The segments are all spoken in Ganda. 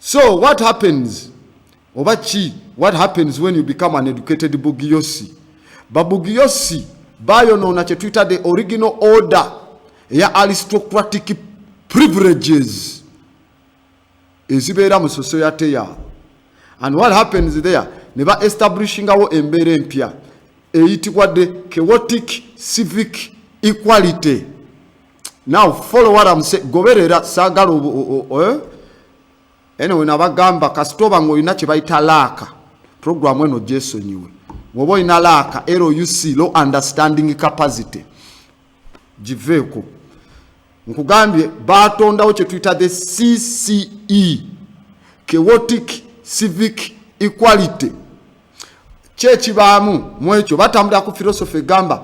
so what happens oba ki what happens when you become an educated bugiyosi babugiyosi bayonoona kyetuyita the original order eya aristocratic privileges ezibeera mu society yaabo and what happens there ne ba establishingawo embeera empya eyitibwa the chaotic civic equality now follow what I'm saying goberera sagala eh? anyway nabagamba kasita oba ngaolina kyebayita laaka programu eno gyesonyiwe woba olina laaka luc low understanding capacity giveeko nkugambye batondawo kyetuyita the cce chaotic civic equality kyekibaamu mwekyo batambulira ku philosophy egamba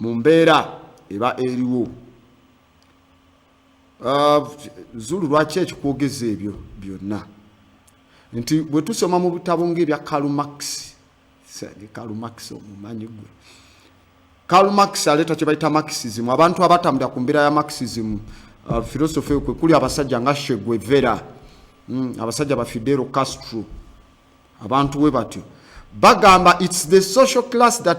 mu mbeera eba eriwo uh, zulu lwaki ekikwogeza ebyo byonna nti bwe tusoma mu bitabo ngaebya kalumax kalumax omumanyi gwe Karl Marx aleta kye bayita Marxism abantu abatambira ku mbeera ya Marxism uh, philosophy kwe kuli abasajja nga Che Guevara mm, abasajja ba Fidel Castro abantu we batyo bagamba it's the social class that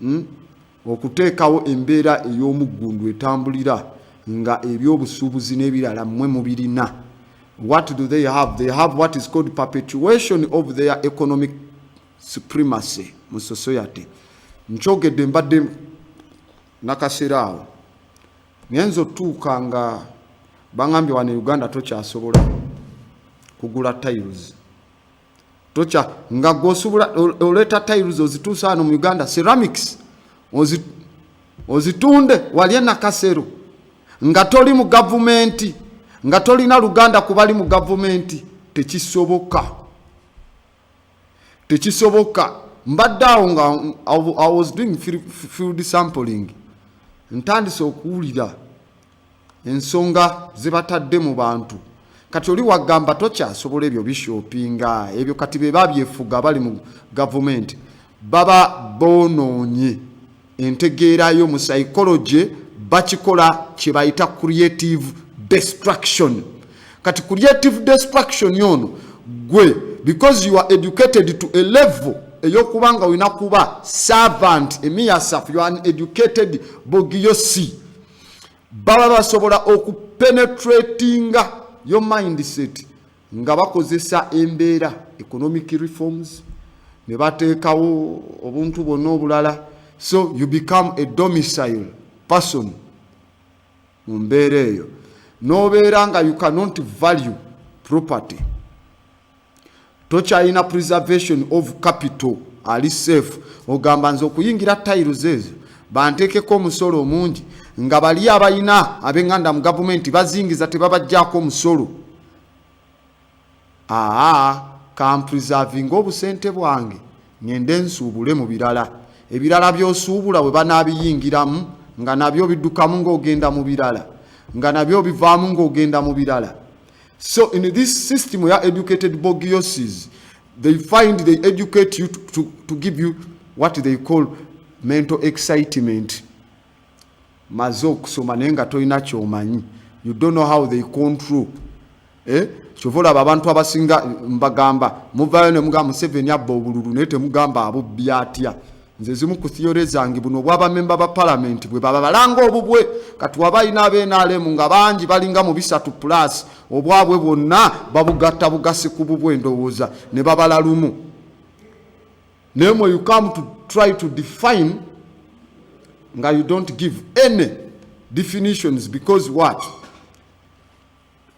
hmm? okuteekawo embeera ey'omuggundu etambulira nga ebyobusuubuzi n'ebirala mmwe mubirina what do they have they have what is called perpetuation of their economic supremacy mu society nkyogedde mbadde nakaseera awo ngenza otuuka nga bangambye wano e uganda tokyasobola kugula tiles tokya nga gwosobola oleeta tiles ozituusa wano mu uganda ceramics ozitunde wali enakasero nga toli mu gavumenti nga tolina luganda kubali mu gavumenti tekisoboka tekisoboka mbadde awo nga i was doing field sampling ntandise okuwulira ensonga zebatadde mu bantu kati oli wagamba tokyasobola ebyo bishopinga ebyo kati bebabyefuga bali mu gavumenti baba bonoonye entegeerayo mu psychology bakikola kyebayita creative destruction kati creative destruction yono gwe because you are educated to a level eyokuba nga olina kuba servant emiyasaf you are an educated bogiyosi baba basobola okupenetratinga yo mindset nga bakozesa embeera economic reforms ne bateekawo obuntu bwonna obulala so you become a domicile person mu mbeera eyo n'obeera nga you cannot value property tokyalina preservation of capital ali safe ogamba nze okuyingira tiles ezo banteekeko omusolo omungi nga bali abalina abenganda mu gavumenti bazingiza tebabajjaako omusolo aa kampreservinga obusente bwange ngende nsuubule mu birala ebirala byosuubula bwe banaabiyingiramu nga nabyo biddukamu ng'ogenda mu birala nga nabyo bivaamu ng'ogenda mu birala So in this system ya educated bogioses they find they educate you to, to, to give you what they call mental excitement maze okusoma naye nga tolina kyomanyi you don't know how they control eh? kyova olaba abantu abasinga mbagamba muvayo nemugamba museveni abba obululu naye temugamba abubbi atya nze zimu ku theory zange buno obwa bamemba ba palamenti bwe baba balanga obubwe kati waba alina abnrm nga bangi balinga mu bisatu plus obwabwe bwonna babugatta bugasi ku bubwe endowooza ne babala lumu naye mwe you come to try to define nga you don't give any definitions because what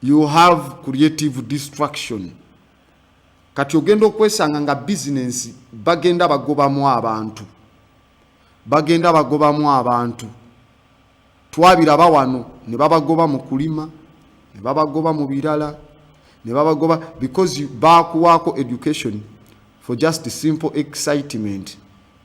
you have creative destruction Kati ogenda okwesanga nga bizinensi bagenda bagobamu abantu, bagenda bagobamu abantu. Twabiraba wano ne babagoba mu kulima, ne babagoba mu birala, ne babagoba because baakuwaako education for just simple excitement.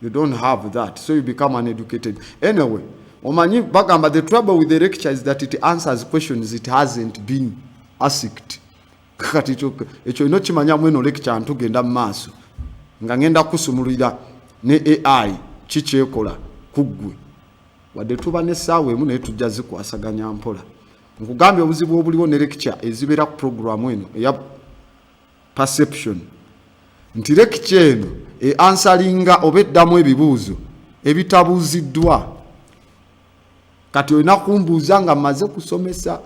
You don't have that, so you become uneducated. Anyway, omanyi bagamba the trouble with the lecture is that it answers questions it hasn't been asked. kati ekyo olina okimanya mweno lekikya ntugenda mu maaso nga ngenda kusumululira ne ai kikyekola ku ggwe wadde tuba n'essaawa emu naye tujja zikwasaganya mpola nkugambye obuzibu obuliwo ne lekikya ezibeera ku puroguramu eno eya perception nti lekikya eno eansalinga oba eddamu ebibuuzo ebitabuuziddwa kati olina kumbuuza nga mmaze kusomesa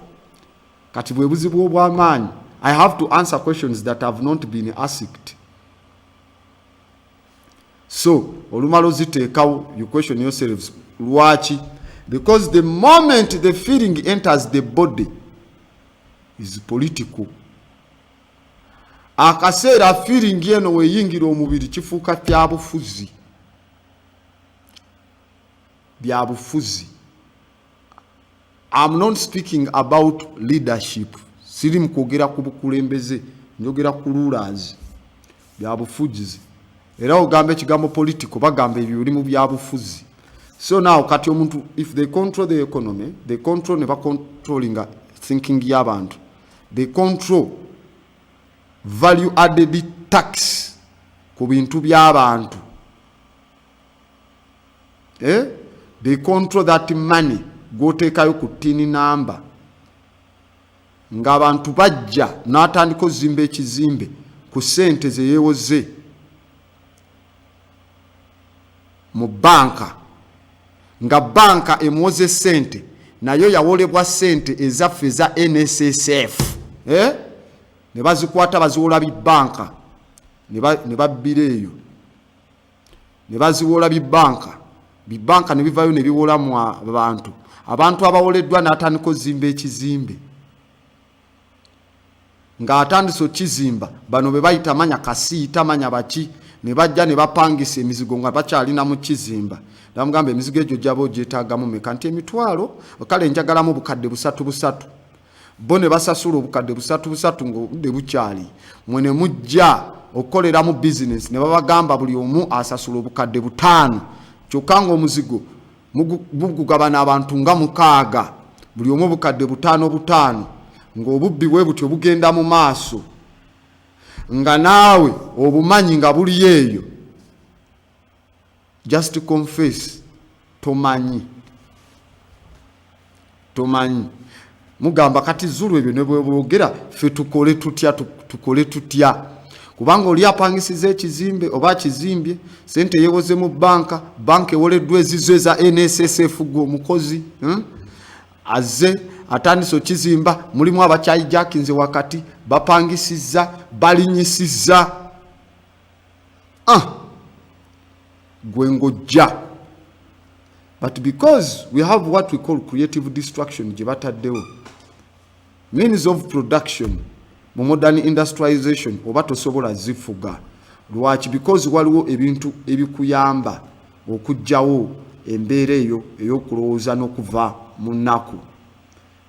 kati bwebuzibu obwamaanyi i have to answer questions that have not been asked so olumala oziteekawo you question yourselves lwaki because the moment the feeling enters the body is political akaseera feeling eno weyingira omubiri kifuuka kyabufuzi byabufuzi I'm not speaking about leadership. Siri mkwogera ku bukulembeze, njogera ku rulers bya bufujizi. Era ogamba ekigambo political bagamba ebyo biri mu bya bufuzi. So now kati omuntu if they control the economy, they control ne ba controlling thinking y'abantu. They control value added tax ku bintu by'abantu. eh? they control that money gwoteekayo ku tini namba ng'abantu bajja n'atandika ozimba ekizimbe ku ssente ze yeewoze mu banka nga banka emuwoze ssente nayo yawolebwa ssente ezaffe eza nssf eh? ne bazikwata baziwola bi banka ne babbira eyo ne baziwola bibanka bibanka ne bivayo ne biwola mu abantu abantu abawoleddwa n'atandika ozimba ekizimbe ng'atandise okizimba bano be bayita manya kasiita manya baki ne bajja ne bapangisa emizigo nga bakyalina mu kizimba namugamba emizigo egyo gyaba ogyetaagamu meka nti emitwalo kale njagalamu bukadde busatu busatu bo ne basasula obukadde busatu busatu ng'obudde bukyali mwe ne mujja okukoleramu bizinesi ne babagamba buli omu asasula obukadde butaano kyokka ng'omuzigo bugugabana abantu nga mukaaga buli omu obukadde butaano butaano ng'obubbi bwe butyo bugenda mu maaso nga naawe obumanyi nga buli eyo just confess tomanyi tomanyi mugamba kati zulu ebyo nebwebwogera fe tukole tutya tukole tutya kubanga oli apangisiza ekizimbe oba akizimbye sente yewoze mu banka banka ewoleddwa ezizo eza nssf gwe omukozi hmm? aze atandise okizimba mulimu abakyayijakinze wakati bapangisiza balinyisiza ah gwe ngojja but because we have what we call creative destruction gye bataddewo means of production mu modern industrialization oba tosobola zifuga lwaki because waliwo ebintu ebikuyamba okugyawo embeera eyo eyokulowooza n'okuva mu nnaku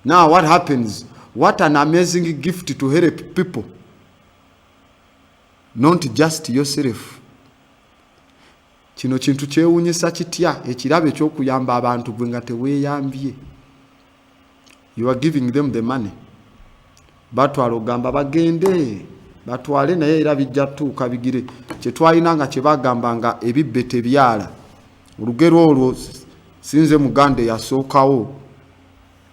now what happens what an amazing gift to help people Not just yourself. Kino kintu kyewunyisa kitya ekirabo ekyokuyamba abantu gwe nga teweyambye. You are giving them the money. Batwala ogamba bagende batwale naye era bijja tuuka bigire kyetwalina nga kyebagamba nga ebibbe tebyala olugero olwo sinze muganda eyasookawo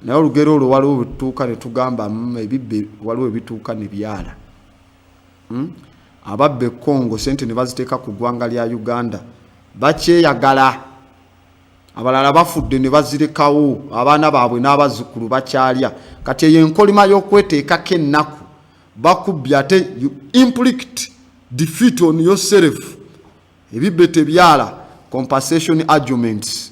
naye olugero olwo waliwo wetutuuka netugamba mm, ebibbe waliwo ebituuka nebyala Hmm? Ababba e Congo sente ne baziteeka ku ggwanga lya Uganda bakyeyagala. Abalala bafudde ne bazirekawo abaana baabwe n'abazzukulu bakyalya. Kati eyo enkolima y'okweteekako ennaku bakubbye ate you implicate defeat on yourself ebibbe tebyala compensation arguments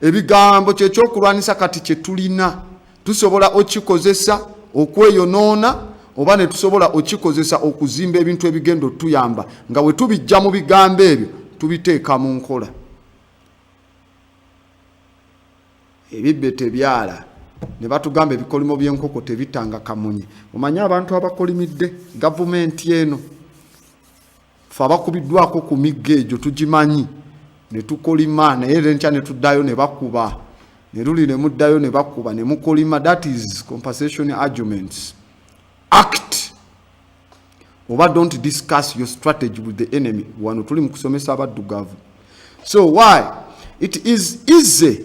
ebigambo kyekyokulwanisa kati kyetulina tusobola okikozesa okweyonoona oba netusobola okikozesa okuzimba ebintu ebigenda otuyamba nga wetubijja mu bigambo ebyo tubiteeka mu nkola ebibbe tebyala ne batugamba ebikolimo by'enkoko tebitanga kamunye omanye abantu abakolimidde gavumenti eno fe abakubiddwako ku migga egyo tugimanyi ne tukolima naye lenkya ne tuddayo ne bakuba ne luli ne muddayo ne bakuba ne mukolima that is compensation arguments act oba don't discuss your strategy with the enemy wano tuli mu kusomesa abaddugavu so why it is easy